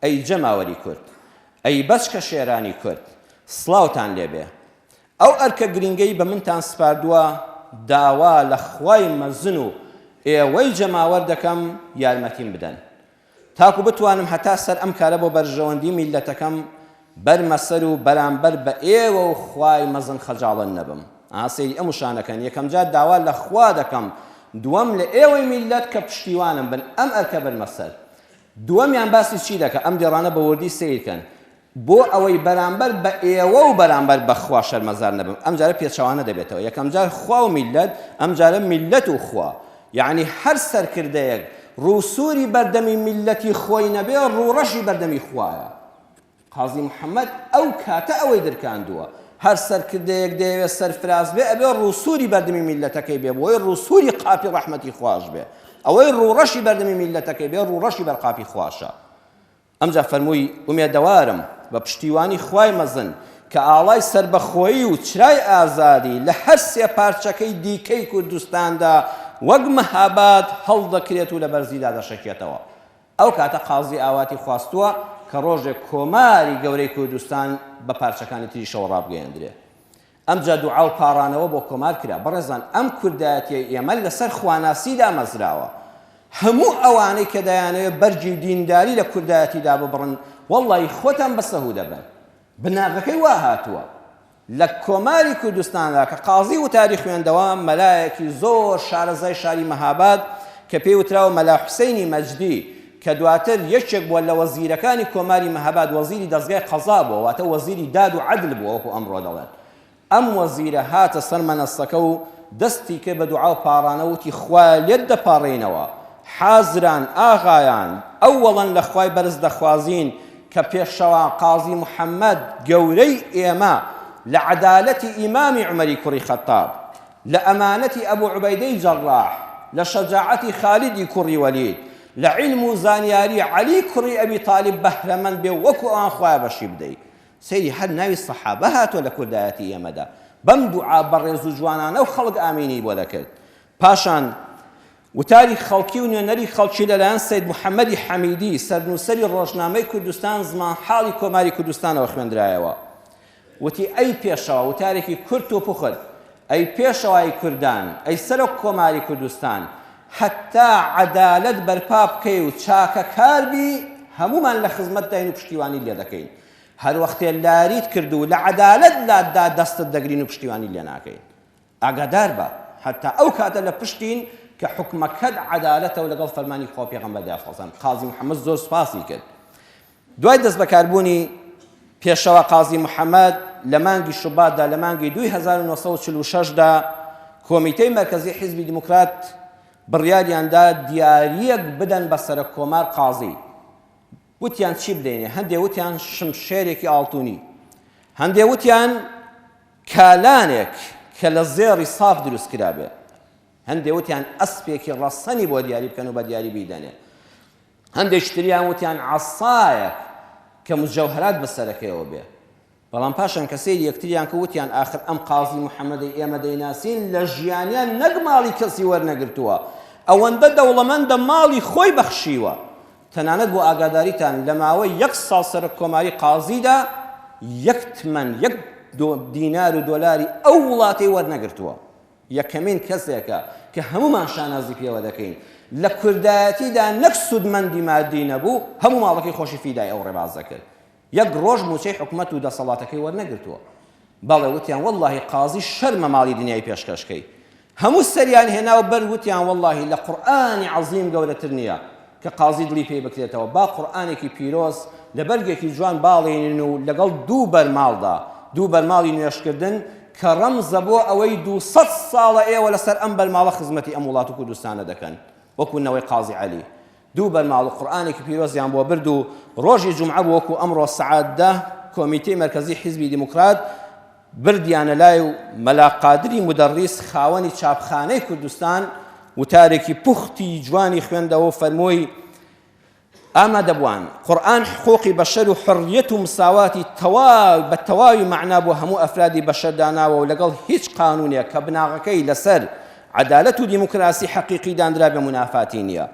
ئەی جەماوەری کورد، ئەی بەچکە شێرانی کورد، سڵاوتان لێ بێ. ئەو ئەرکە گرینگەی بە منتان سپاردووە، داوا لە خوای مەزن و ئێوەی جەماوەر دەکەم یارمەتیم بدەن، تاکو بتوانم هەتا سەر ئەم کارە بۆ بەرژەوەندی میللەتەکەم بەرمە سەر و بەرامبەر بە ئێوە و خوای مەزن خەجاڵەت نەبم. ئا سەیری ئەم وشانە کەن، یەکەم جار داوا لە خوا دەکەم، دووەم لە ئێوەی میللەت کە پشتیوانم بن ئەم ئەرکە بەرمە سەر. دووەمیان باسی چی دەکا؟ ئەم دێڕانە بە وردی سەیر کەن، بۆ ئەوەی بەرامبەر بە ئێوە و بەرامبەر بە خوا شەرمەزار نەبم، ئەم جارە پێچەوانە دەبێتەوە، یەکەم جار خوا و میللەت، ئەم جارە میللەت و خوا. یەعنی هەر سەرکردەیەک ڕوو سووری بەردەمی میللەتی خۆی نەبێ، ڕوو ڕەشی بەردەمی خوایە. قازی محەمەد ئەو کاتە ئەوەی درکاندووە. هەر سەرکردەیەک دەیەوێ سەرفراز بێ، ئەبێ ڕوو سووری بەردەمی میللەتەکەی بێ، بۆی ڕوو سووری قاپی ڕەحمەتی خواش بێ. ئەوەی ڕوو ڕەشی بەردەمی میللەتەکەی بێ، ڕوو ڕەشی بەر قاپی خواشە. ئەمجا فەرمووی، ئومێدەوارم، بە پشتیوانی خوای مەزن، کە ئاڵای سەربەخۆیی و چرای ئازادی لە هەر سێ پارچەکەی دیکەی کوردستاندا وەک مەهاباد هەڵدەکرێت و لە بەرزیدا دەشەکێتەوە. ئەو کاتە قازی ئاواتی خواستووە کە ڕۆژێک کۆماری گەورەی کوردستان بە پارچەکانی تریشەوە ڕابگەیەندرێت. ئەمجا دوعا و پاڕانەوە بۆ کۆمار کرا. بەڕێزان ئەم کوردایەتیەی ئێمە لەسەر خواناسی دامەزراوە. هەموو ئەوانەی کە دەیانەوێت بەرگی و دینداری لە کوردایەتی داببڕن وەڵڵایی خۆتان بە سەهوو دەبەن. بناغەکەی وا هاتووە. لە کۆماری کوردستاندا کە قازی وتاری خوێندەوە مەلایەکی زۆر شارەزای شاری مەهاباد کە پێی وتراوە مەلا حوسەینی مەجدی، کە دواتر یەکێک بووە لە وەزیرەکانی کۆماری مەهاباد وەزیری دەزگای قەزا بووە واتە وەزیری داد و عەدل بووە وەکو ئەمڕۆ دەڵێن ئەم وەزیرە هاتە سەر مەنەسەکە و دەستی کرد بە دوعاو پاڕانەوە وتی خوایە لێت دەپاڕێینەوە حازران ئاغایان ئەوەڵەن لە خوای بەرز دەخوازین کە پێشەوا قازی محەمەد گەورەی ئێمە لە عەدالەتی ئیمامی عومەری کوڕی خەتاب لە ئەمانەتی ئەبو عوبەیدەی جەڕاح، لە شەجاعەتی خالیدی کوڕی وەلید، لە عیلم و زانیاری عەلی کوڕی ئەبی تالیب بەهرەمەند بێ و وەکو ئەوان خوایە بەشی بدەی. سەیری هەر ناوی سەحابە هاتووە لە کوردایەتی ئێمەدا. بەم دوعا بەڕێز و جوانانە و خەڵک ئامینی بۆ دەکرد. پاشان وتاری خەڵکی و نوێنەری خەڵکی لە لایەن سەید محەمەدی حەمیدی، سەرنووسەری ڕۆژنامەی کوردستان زمانحاڵی کۆماری کوردستانەوە خوێندرایەوە. وتی، ئەی پێشەوا، وتارێکی کورت و پوخت، ئەی پێشەوای کوردان، ئەی سەرۆک کۆماری کوردستان، هەتا عەدالەت بەرپا بکەی و چاکەکار بی، هەموومان لە خزمەتداین و پشتیوانیت لێ دەکەین. هەر وەختێ لاریت کرد و لە عەدالەت لاتدا دەستت دەگرین و پشتیوانیت لێ ناکەین. ئاگادار بە، هەتا ئەو کاتە لە پشتین کە حوکمەکەت عەدالەتە و لەگەڵ فەرمانی خوا و پێغەمبەردا ئەخوازێن. قازی محەممەد زۆر سوپاسی کرد. دوای دەستبەکاربوونی پێشەوا قازی محەمەد لە مانگی شوباتدا لە مانگی دووی هەزار و نۆ سەد و چل و شەش دا کۆمیتەی مەرکەزی حیزبی دیموکرات بڕیاریان دا دیارییەک بدەن بە سەرەککۆمار قازی وتیان چی بدەینێ هەندێ وتیان شمشێرێکی ئاڵتونی هەندێ وتیان کالانێک کە لە زێڕی ساف دروست کرابێ هەندێ وتیان ئەسپێکی ڕەسەنی بۆ دیاری بکەن و بە دیاری بیدەنێ هەندێکی تریان وتیان عەسایەک کە موجەوهەرات بە سەرەکەیەوە بێ. بەڵام پاشان کە سەیری یەکتریان کرد وتیان ئاخر ئەم قازی محەمەدەی ئێمە دەیناسین لە ژیانیان نەک ماڵی کەسی وەرنەگرتووە، ئەوەندە دەوڵەمەندە ماڵی خۆی بەخشیوە. تەنانەت بۆ ئاگاداریتان لە ماوەی یەک ساڵ سەرۆککۆماری قازیدا یەک تمەن، یەک دینار و دۆلاری ئەو وڵاتەی وەرنەگرتووە. یەکەمین کەسێکە کە هەموومان شانازی پێوە دەکەین لە کوردایەتیدا نەک سوودمەندی مادی نەبوو، هەموو ماڵەکەی خۆشی فیدای ئەو ڕێبازە کرد. یەک ڕۆژ مووچەی حکومەت و دەسەڵاتەکەی وەرنەگرتووە. بەڵێ وتیان وەڵڵاهی قازی شەرمە ماڵی دنیای پێشکەش کەی. هەموو سەریان هێنا و بەر وتیان وەڵڵاهی لە قورئانی عەزیم گەورەتر نییە. کە قازی دڵی پێی بکرێتەوە با قورئانێکی پیرۆز لە بەرگێکی جوان باڵێنین و لەگەڵ دوو بەرماڵدا، دوو بەرماڵی نوێژکردن، کە ڕەمزە بۆ ئەوەی دوو سەد ساڵە ئێوە لەسەر ئەم بەرماڵە خزمەتی ئەم وڵات و کوردستانە دەکەن، وەکو نەوەی قازی عەلی دوو بەرماڵ و قورئانێکی پیرۆزیان بۆ برد و ڕۆژی جومعە بوو وەکو ئەمڕۆ سەعات دە کۆمیتەی مەرکەزی حیزبی دیموکرات بردیانە لای و مەلا قادری مودەڕیس خاوەنی چاپخانەی کوردستان وتارێکی پوختی جوانی خوێندەوە و فەرمووی، ئامادەبووان، قورئان حقووقی بەشەر و حوڕییەت و مساواتی تەواو بە تەواوی مەعنا بۆ هەموو ئەفرادی بەشەر داناوە و لەگەڵ هیچ قانوونێک کە بناغەکەی لەسەر عەدالەت و دیموکراسی حەقیقی داندرابێ مونافاتی نییە.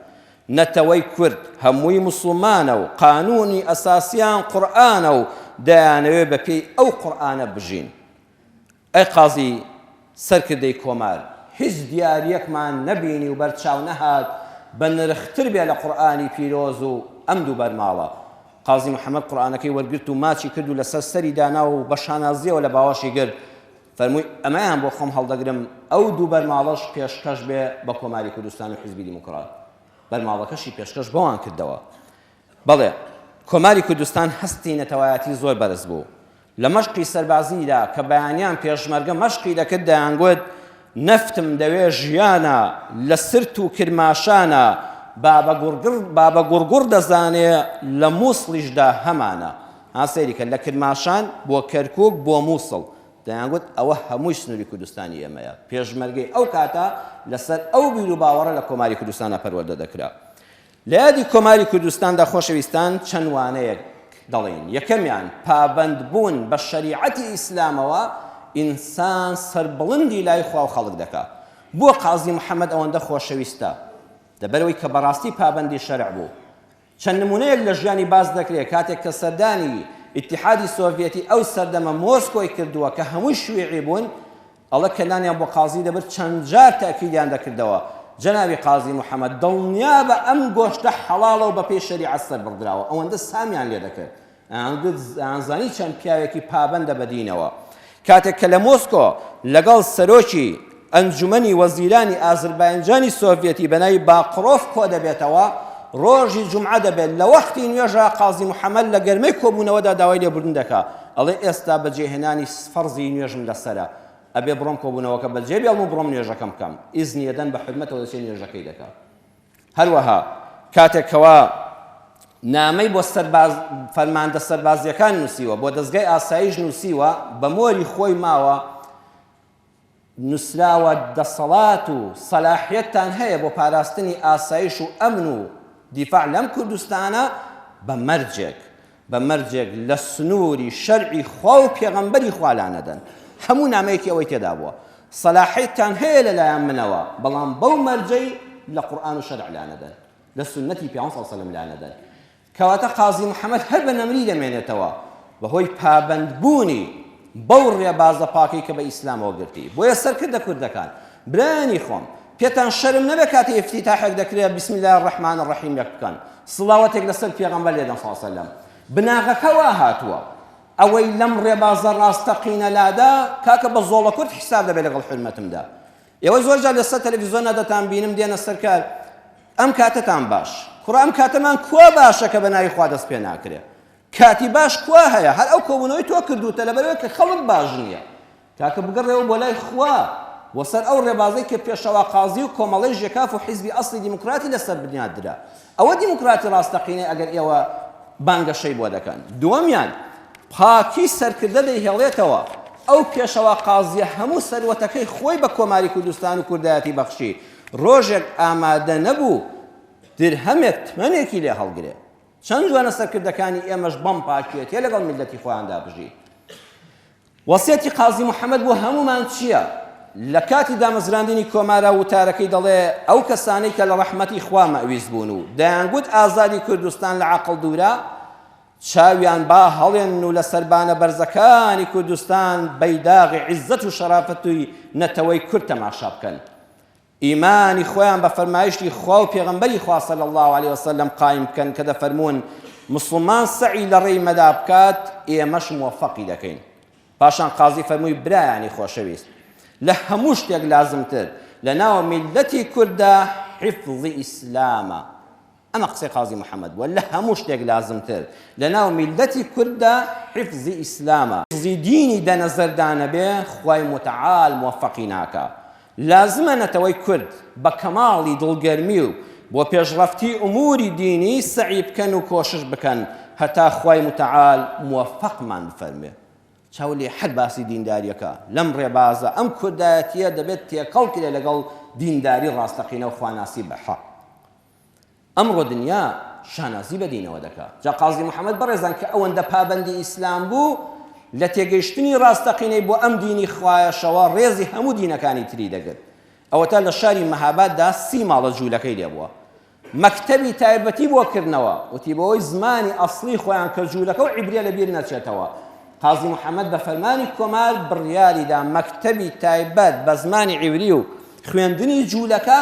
نەتەوەی کورد هەمووی موسڵمانە و قانوونی ئەساسیان قورئانە و دەیانەوێت بە پێی ئەو قورئانە بژین. ئەی قازی سەرکردەی کۆمار، هیچ دیارییەکمان نەبینی و بەرچاو نەهات بە نرختر بێ لە قورئانی پیرۆز و ئەم دوو بەرماڵە. قازی محەمەد قورئانەکەی وەرگرت و ماچی کرد و لەسەر سەری دانا و بە شانازییەوە لە باوەشی گرت. فەرمووی، ئەمەیان بۆ خۆم هەڵدەگرم، ئەو دوو بەرماڵەش پێشکەش بێ بە کۆماری کوردستان و حیزبی دیموکرات. بەرماڵەکەشی پێشکەش بەوان کردەوە. بەڵێ، کۆماری کوردستان هەستی نەتەوایەتی زۆر بەرز بوو. لە مەشقی سەربازییدا کە بەیانیان پێشمەرگە مەشقی دەکرد دەیانگوت، نەفتم دەوێ ژیانە، لە سرت و کرماشانە، بابە گوڕگوڕ دەزانێ، لە موسڵیشدا هەمانە. ها سەیری کە لە کرماشان بۆ کەرکوک بۆ موسڵ دەیانگوت ئەوە هەمووی سنوری کوردستانی ئێمەیە پێشمەرگەی ئەو کاتە لەسەر ئەو بیرو باوەڕە لە کۆماری کوردستانا پەروەردە دەکرا لە یادی کۆماری کوردستاندا خۆشەویستان چەند وانەیەک دەڵێین یەکەمیان پابەند بوون بە شەریعەتی ئیسلامەوە ئینسان سەربڵندی لای خواو خەڵک دەکا بۆ قازی محەمەد ئەوەندە خۆشەویستە لەبەرەوەی کە بەڕاستی پابەندی شەرع بوو چەند نمونەیەک لە ژیانی باس دەکرێت کاتێک کە سەردانی ئیتیحادی سۆڤیەتی ئەو سەردەمە مۆسکۆی کردووە کە هەمووی شویعی بوون ئەڵە کە نانیان بۆ قازی دەبرد چەند جار تەئکیدیان دەکردەوە جەنابی قازی محەمەد دڵنیابە ئەم گۆشتە حەڵاڵە و بەپێی شەریعەت سەربڕدراوە ئەوەندە سامیان لێ دەکرد ئەیانزانی چەند پیاوێکی پابەندە بە دینەوە. کاتێک کە لە مۆسکۆ لەگەڵ سەرۆکی ئەنجومەنی وەزیرانی ئازرباینجانی سۆڤیەتی بە ناوی باقرۆف کۆدەبێتەوە، ڕۆژی جومعە دەبێت، لە وەختی نوێژا قازی محەمەد لە گەرمەی کۆبوونەوەدا داوای لێبوردن دەکا، ئەڵێ ئێستا بەجێهێنانی فەرزی نوێژم لەسەرە، ئەبێ بڕۆم کۆبوونەوەکە بەجێبێڵم و بڕۆم نوێژەکەم بکەم، ئیزنی ئەدەن بە حورمەتەوە دەچێت نوێژەکەی دەکا. هەروەها کاتێک کەوا نامەی بۆ سەرباز فەرماندە سەربازیەکان نووسیوە بۆ دەستگای ئاسایش نووسیوە بە مۆری خۆی ماوە نووسراوە دەسەڵات و سەلاحەتتان هەیە بۆ پاراستنی ئاسایش و ئەمن و دیفاع لەم کوردستانە بە مەرجێک بە مەرجێک لە سنووری شەرعی خوا و پێغەمبەری خوا لانەدەن هەموو نامەیەکی ئەوەی تێدا بووە سەلاحیتان هەیە لە لایەن منەوە بەڵام بەو مەرجەی لە قورئان و شەرع لانەدەن لە سونەتی پیامبەر صلی الله علیه و سلم لانەدەن کەواتە قازی محەممەد هەر بە نەمری دەمێنێتەوە بەهۆی پابەندبوونی بەو ڕێبازە پاکەی کە بە ئیسلامەوە گرتی. بۆیە سەرکردە کوردەکان، برایانی خۆم، پێتان شەرم نەبێت کاتی ئیفتیتاحێک دەکرێت بسم اللە الرحمن الرحیم ێک بکەن، سڵاوەتێک لەسەر پێغەمبەر لێدەن صلی اللە وسلم. بناغەکە وا هاتووە. ئەوەی لەم ڕێبازە ڕاستەقینە لادا، کاکە بە زۆڵەکورد حیساب دەبێت لەگەڵ حورمەتمدا. ئێوە زۆر جار لەسەر تەلەفیزۆنا دەتان بینم دێنە سەر کار، ئەم کاتەتان باش. کوڕە ئەم کاتەمان کوا باشە کە بە ناوی خوا دەست پێ ناکرێت؟ کاتی باش کوا هەیە هەر ئەو کۆبونەوەی تۆ کردوتە لەبەرئەوەی کە خەڵک باش نیە کاکە بگەڕێوە بۆ لای خوا و سەر ئەو ڕێبازەی کە پێشەوا قازی و کۆمەڵەی ژێکاف و حیزبی ئەسڵی دیموکراتی لەسەر بنیات درا ئەوە دیموکراتی ڕاستەقینەی ئەگەر ئێوە بانگەشەی بۆ دەکەن دووەمیان پاکی سەرکردە دەیهێڵێتەوە ئەو پێشەوا قازیە هەموو سەروەتەکەی خۆی بە کۆماری کوردستان و کوردایەتی بەخشی ڕۆژێک ئامادە نەبوو درهەمێک تمەنێکی لێ هەڵگرێ چەند جوانە سەرکردەکانی ئێمەش بەم پاکیەتیە لەگەڵ میلەتی خۆیاندا بژی وەسیەتی قازی محەممەد بۆ هەمومان چییە لە کاتی دامەزراندنی کۆمارا وتارەکەی دەڵێ ئەو کەسانەی کە لە ڕەحمەتی خوا مەویست بوون و دەیانگوت ئازادی کوردستان لە عقل دوورە چاویان با هەڵێن و لە سەربانە بەرزەکانی کوردستان بەیداغی عیزەت و شەرافەتوی نەتەوەی کورد تەماشا بکەن ئیمانی خۆیان بە فەرمایشتی خوا و پێغەمبەری خوا صلی اللە علیه وسلم قایم بکەن کە دەفەرموون مسڵمان سەعی لە ڕێی مەدا بکات ئێمەش موفقی دەکەین پاشان قازی فەرمووی برایانی خۆشەویست لە هەموو شتێک لازمتر لە ناو میلەتی کورددا حفظ ئیسلامە ئەمە قسەی قازی محمد بوە لە هەموو شتێک لازمتر لە ناو میللەتی کورددا حفزی ئیسلامە حفزی دینی دە نەزەردا نەبێ خوای موتەعال موەفەقی ناکا لازمە نەتەوەی کورد بە کەماڵی دڵگەرمی و بۆ پێشڕەفتی ئوموری دینی سەعی بکەن و کۆشش بکەن هەتا خوای موتەعال موەفەقمان بفەرموێ چاو لێ حەک باسی دینداریەکە لەم ڕێبازە ئەم کوردایەتیە دەبێت تێکەڵ کرێ لەگەڵ دینداری ڕاستەقینە و خواناسی بە حەق ئەمڕۆ دنیا شانازی بە دینەوە دەکا. جا قازی محەمەد بەڕێزان کە ئەوەندە پابەندی ئیسلام بوو، لە تێگەیشتنی ڕاستەقینەی بۆ ئەم دینی خوایەشەوە ڕێزی هەموو دینەکانی تری دەگرت. ئەوەتا لە شاری مەهاباددا سی ماڵە جوولەکەی لێ بووە. مەکتەبی تایبەتی بۆ کردنەوە. وتی بەوەی زمانی ئەسڵی خۆیان کە جوولەکە و عیبریە لە بیر نەچێتەوە. قازی محەمەد بە فەرمانی کۆمار بڕیاری دا مەکتەبی تایبەت بە زمانی عیبری و خوێندنی جوولەکە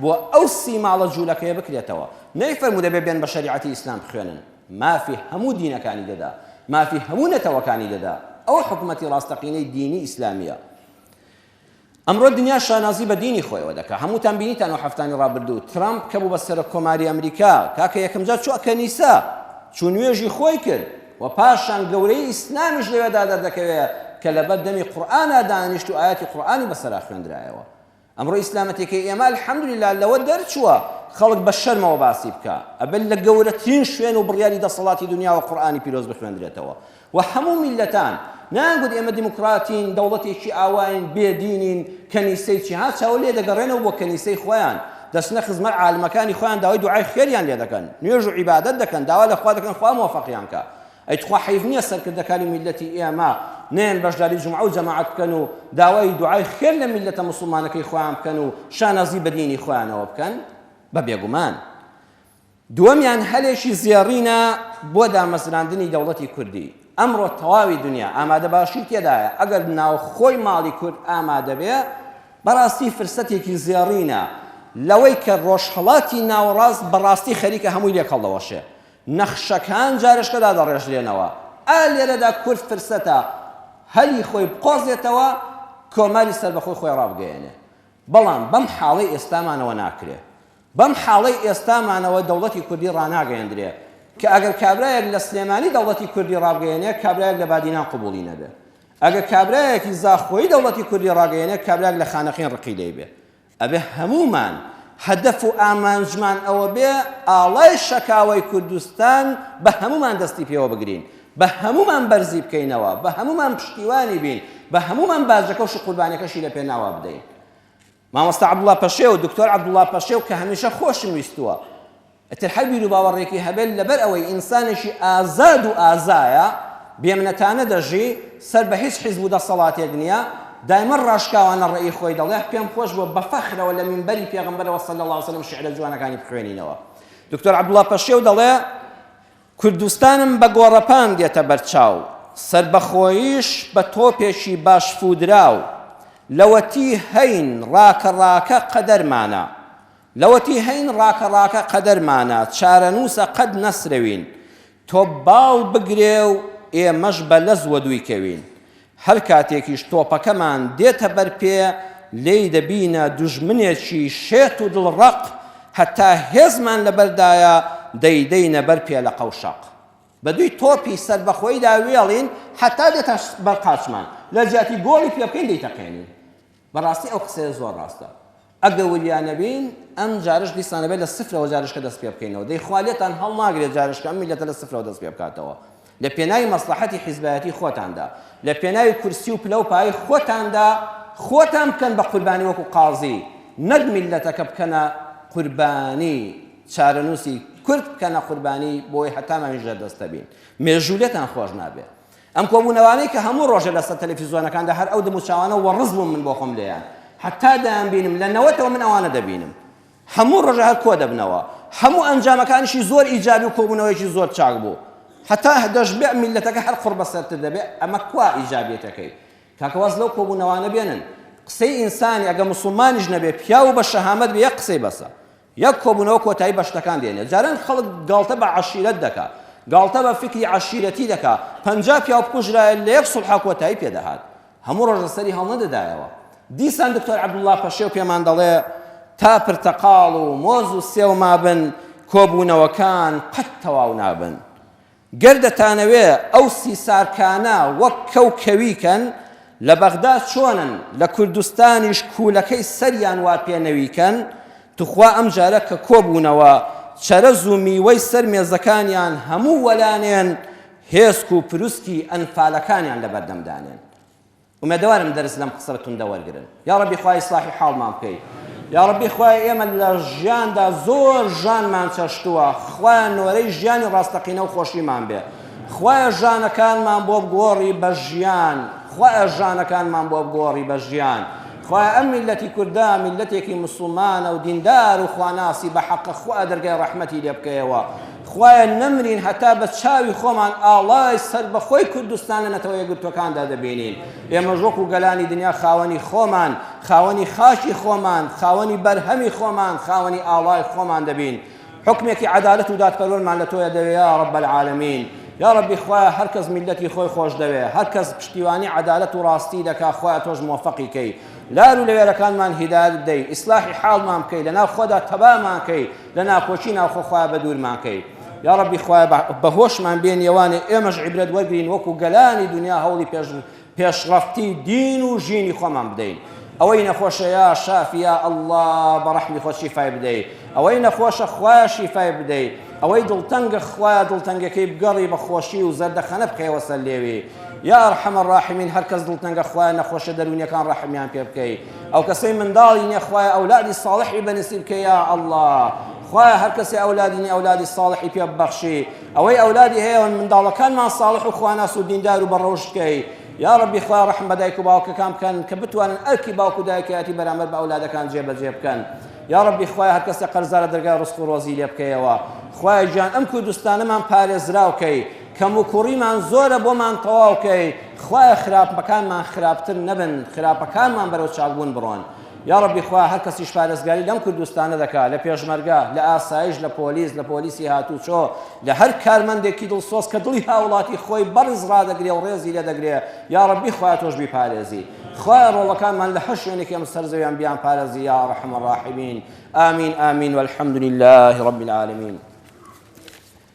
بۆ ئەو سی ماڵە جوولەکەیە بکرێتەوە، نەیفەرموو دەبێ بێن بە شەریعەتی ئیسلام بخوێنن، مافی هەموو دینەکانی دەدا، مافی هەموو نەتەوەکانی دەدا، ئەوە حکومەتی ڕاستەقینەی دینی ئیسلامییە. ئەمڕۆ دنیا شانازی بە دینی خۆیەوە دەکا، هەمووتان بینیتان ئەو حەفتانەی ڕابردوو، ترەمپ کە بوو بە سەرۆک کۆماری ئەمریکا، کاکە یەکەمجار چووە کەنیسە، چوو نوێژی خۆی کرد، وە پاشان گەورەیی ئیسلامیش لەوێدا دەردەکەوێ کە لەبەر دەمی قورئانا دانیشت و ئایەتی قورئانی بەسەرا خوێندرایەوە ئەمڕۆ ئیسلامەتێکی ئێمە الحمدللە لەوە دەرچووە خەڵک بە شەرمەوە باسی بکا ئەبێت لە گەورەترین شوێن و بڕیاری دەسەڵاتی دنیاوە قورئانی پیرۆز بخوێندرێتەوە و هەموو میلەتان نانگوت ئێمە دیموکراتین دەوڵەتێکی ئاواین بێدینین کەنیسەی چی ها چاو لێ دەگەڕێنەوە بۆ کەنیسەی خۆیان دەچنە خزمەت عالمەکانی خۆیان داوای دوعای خێریان لێ دەکەن نوێژ و عیبادەت دەکەن داوا لە خوا دەکەن خوا مۆفەقیان کا ئەی تخوا حەیف نیە سەرکردەکانی میللەتی ئێمە نەیەن بەشداری جومعە و جەماعەت بکەن و داوای دوعای خێر لە میللەتە موسڵمانەکەی خۆیان بکەن و شانازی بە دینی خۆیانەوە بکەن بە بێگومان دووەمیان هەلێکی زێڕینە بۆ دامەزراندنی دەوڵەتی کوردی. ئەمڕۆ تەواوی دونیا ئامادەباشی تێدایە، ئەگەر ناوخۆی ماڵی کورد ئامادەبێ، بەڕاستی فرسەتێکی زێڕینە لەوەی کە ڕۆژهەڵاتی ناوەڕاست بەڕاستی خەریکە هەمووی لێک هەڵدەوەشێ. نەخشەکان جارێشکە دادەڕێژرێنەوە. ئا لێرەدا کورد فرسەتە هەلی خۆی بقۆزێتەوە، کۆماری سەربەخۆی خۆی ڕابگەیەنێ. بەڵام بەم حاڵەی ئێستامانەوە ناکرێ. بەم حاڵەی ئێستامانەوە دەوڵەتی کوردی ڕاناگەیەندرێ کە ئەگەر کابرایەک لە سلێمانی دەوڵەتی کوردی ڕابگەیەنێ کابرایەک لە بادینان قبوڵی نەبێ ئەگەر کابرایەکی زاخۆیی دەوڵەتی کوردی ڕاگەیەنێ کابرایەک لە خانەقین ڕقی لێی بێ ئەبێ هەموومان هەدەف و ئامانجمان ئەوە بێ ئاڵای شەکاوەی کوردستان بە هەموومان دەستی پێوە بگرین بە هەموومان بەرزی بکەینەوە بە هەموومان پشتیوانی بین بە هەموومان باجەکە و شقوربانەکەشی لە پێناوا بدەین مامۆستا عەبدوڵا پەشێو، دکتۆر عەبدوڵا پەشێو کە هەمیشە خۆشم ویستووە. ئیتر هەر بیروباوەڕێکی هەبێت لەبەر ئەوەی ئینسانێکی ئازاد و ئازایە، بێمنەتانە دەژی، سەر بە هیچ حیزب و دەسەڵاتێک نییە، دایمە ڕاشکاوانە ڕێی خۆی دەڵێ، پێم خۆش بووە بە فەخرەوە لە مینبەری پێغەمبەرەوە صلی اللە علیە وسلم شیعرە جوانەکانی بخوێنینەوە. دکتۆر عەبدوڵا پەشێو دەڵێ، کوردستانم بە گۆڕەپان دێتە بەرچاو، سەربەخۆییش بە تۆپێکی باش فوودراو، لەوەتی هەین ڕاکە ڕاکە قەدەرمانە، لەوەتی هەین ڕاکە ڕاکە قەدەرمانە، چارەنووسە قەت نەسرەوین، تۆپ باڵ بگرێ و ئێمەش بە لەز وەدووی کەوین. هەر کاتێکیش تۆپەکەمان دێتە بەر پێ، لێی دەبینە دوژمنێکی شێت و دڵڕەق، هەتا هێزمان لەبەردایە، دەیدەینە بەر پێ لە قەوشەق. بە دووی تۆپی سەربەخۆیدا وێڵین، هەتا دێتە بەر قاچمان، لە جیاتی گۆڵی پێبکەین دەیتەقێنین. بەڕاستی ئەو قسەیە زۆر ڕاستە ئەگە وریا نەبین ئەم جارش دیسان ئەبێت لە سفرەوە جارشکە دەست پێ بکەینەوە دەی خوا لێتان هەڵناگرێت جارشکە ئەم میلەتە لە سفرەوە دەست پێ بکاتەوە لە پێناوی مەسلەحەتی حیزبایەتی خۆتاندا لە پێناوی کورسی و پلە و پای خۆتاندا خۆتان بکەن بە قوربانی وەکو قازی نەک میلەتەکە بکەنە قوربانی چارەنووسی کورد بکەنە قوربانی بۆی هەتامان ژێر دەستە بین مێژوولێتان خۆش نابێت ئەم کۆبوونەوانەی کە هەموو ڕۆژێ لەسەر تەلەفیزۆنەکاندا هەر ئەو دموچاوانە وەڕز بووم من بۆ خۆم لێیان حەتا دەیانبینم لە نەوەتەوە من ئەوانە دەبینم هەموو ڕۆژە هەر کۆ دەبنەوە هەموو ئەنجامەکانیشی زۆر ئیجابی و کۆبوونەوەیەکی زۆر چاک بوو حتا دەشبێ میلەتەکە هەر قڕ بەسەرتر دەبێ ئەمە کوا ئیجابیەتەکەی کاکەواز لەو کۆبوونەوانە بێنن قسەی ئینسانی ئەگە مسلمانیش نەبێ پیاو بە شەهامەت بێ یەک قسەی بەسە یەک کۆبوونەوە کۆتایی بە شتەکان دێنێت. جاران خەڵک گاڵتە بە عەشیرەت دەکا. گاڵتە بە فیکری عەشیرەتی دەکا. پەنجا پیاو بکوژرایە لە یەک سوڵحا کۆتایی پێ دەهات. هەموو ڕۆژ لە سەری هەڵنەدەدایەوە. دیسان دکتۆر عەبدوڵڵا پەشێو پێمان دەڵێ، تا پرتەقاڵ و مۆز و سێو مابن، کۆبوونەوەکان قەت تەواو نابن. گەر دەتانەوێ ئەو سیسارکانە وەک کەو کەوی کەن لە بەغدا چۆنن لە کوردستانیش کوولەکەی سەریان وا پێ نەوی کەن توخوا ئەم جارە کە کۆ بوونەوە چەرەز و میوەی سەر مێزەکانیان هەموو وەلانێن هێسک و پروسکی ئەنفالەکانیان لە بەردەم دانێن ئومێدەوارم دەرس لەم قسە توندە وەرگرن یاڕەبی خوا ئیسلاحی حاڵمان بکەی یاڕەبی خوای ئێمە لە ژیاندا زۆر ژانمان چەشتووە خوایان نۆرەی ژیانی ڕاستەقینە و خۆشیمان بێ خوایە ژانەکانمان بۆ بگۆڕی بە ژیان خوایە ژانەکانمان بۆ بگۆڕی بە ژیان خوایە ئەم میلەتی کوردە میلەتێکی مسلمانە و دیندار و خواناسی بە حەقە خوا دەرگای ڕەحمەتی لێ بکەیەوە خوایە نەمرین هەتا بە چاوی خۆمان ئاڵای سەربەخۆی کوردستان لە نەتەوە یەکگرتووەکاندا دەبینین. ئێمەش وەکو گەلانی دنیا خاوەنی خۆمان، خاوەنی خاکی خۆمان، خاوەنی بەرهەمی خۆمان، خاوەنی ئاڵای خۆمان دەبین. حوکمێکی عەدالەت و دادپەروەرمان لە تۆیە دەوێ یا رب العالمین. یا ربی خوایە هەر کەس میللەتی خۆی خۆش دەوێ، هەر کەس پشتیوانی عەدالەت و راستی دەکا خوایە تۆش مۆفەقی کەی. لار و لەوێرەکانمان هیدایەت بدەی، ئیسلاحی حاڵمان بکەی، لە ناو خۆدا تەبامان کەی، لە ناکۆکی ناوخۆ خوایە بە دوورمان کەی یا ڕەبی خوایە بە هۆشمان بێن یەوانێ ئێمەش عیبرەت وەرگین وەکو گەلانی دنیا هەوڵی پێش پێشڕەفتی دین و ژینی خۆمان بدەین ئەوەی نەخۆشە یا شافیا ئەلله بە ڕەحمی خۆ شیفای بدەیت ئەوەی نەخۆشە خوایە شیفای بدەیت ئەوەی دڵتەنگە خوایە دڵتەنگەکەی بگەڕی بە خۆشی و زەردەخەنە بکەیەوە سەر لێوی یا ڕحەمە ڕاحمین هەرکەس دڵتەنگە خوایە نەخۆشە دەروونیەکان ڕەحمیان پێ بکەیت ئەو کەسەی منداڵی نیە خوایە ئەولادی ساڵحی بەنسیب کە یا ئەله خوایە هەر کەسی ئەولادی نیە ئەولادی ساڵحی پێ ببەخشی ئەوەی ئەولادی هەیە منداڵەکانمان ساڵح و خواناس و دیندار و بەڕۆژکەی یا ڕبی خوا ڕحم بە دایک و باوکەکان بکەن کە بتوانن ئەرکی باوک و دایکایەتی بەرامەر بە ئەولادەکان جێبەجێ بکەن یا ڕبی خوای هەر کەسێ قەرزارە دەرگای ڕسق و ڕۆزی لێ بکەیەوە خوای گیان ئەم کوردستانەمان پارێزراوکەی کەموکوڕیمان زۆرە بۆمان تەواو کەی خوایە خراپەکانمان خراپتر نەبن خراپەکانمان بەرەو چاکبوون بڕۆن یاڕەبی خوا هەر کەسیش پارێزگاری لەم کوردستانە دەکا لە پێشمەرگە لە ئاسایش لە پۆلیس لە پۆلیسی هاتوچۆ لە هەر کارمەندێکی دڵسۆز کە دڵی هاوڵاتی خۆی بەڕز ڕادەگرێ و ڕێزی لێ دەگرێ یاڕەبی خوا تۆش بیپارێزی خوا ڕۆڵەکانمان لە هەر شوێنێکی ئەم سەر زەویان بیان پارێزی یا ڕەحم ڕاحمین آمین آمین والحمد لله رب العالمین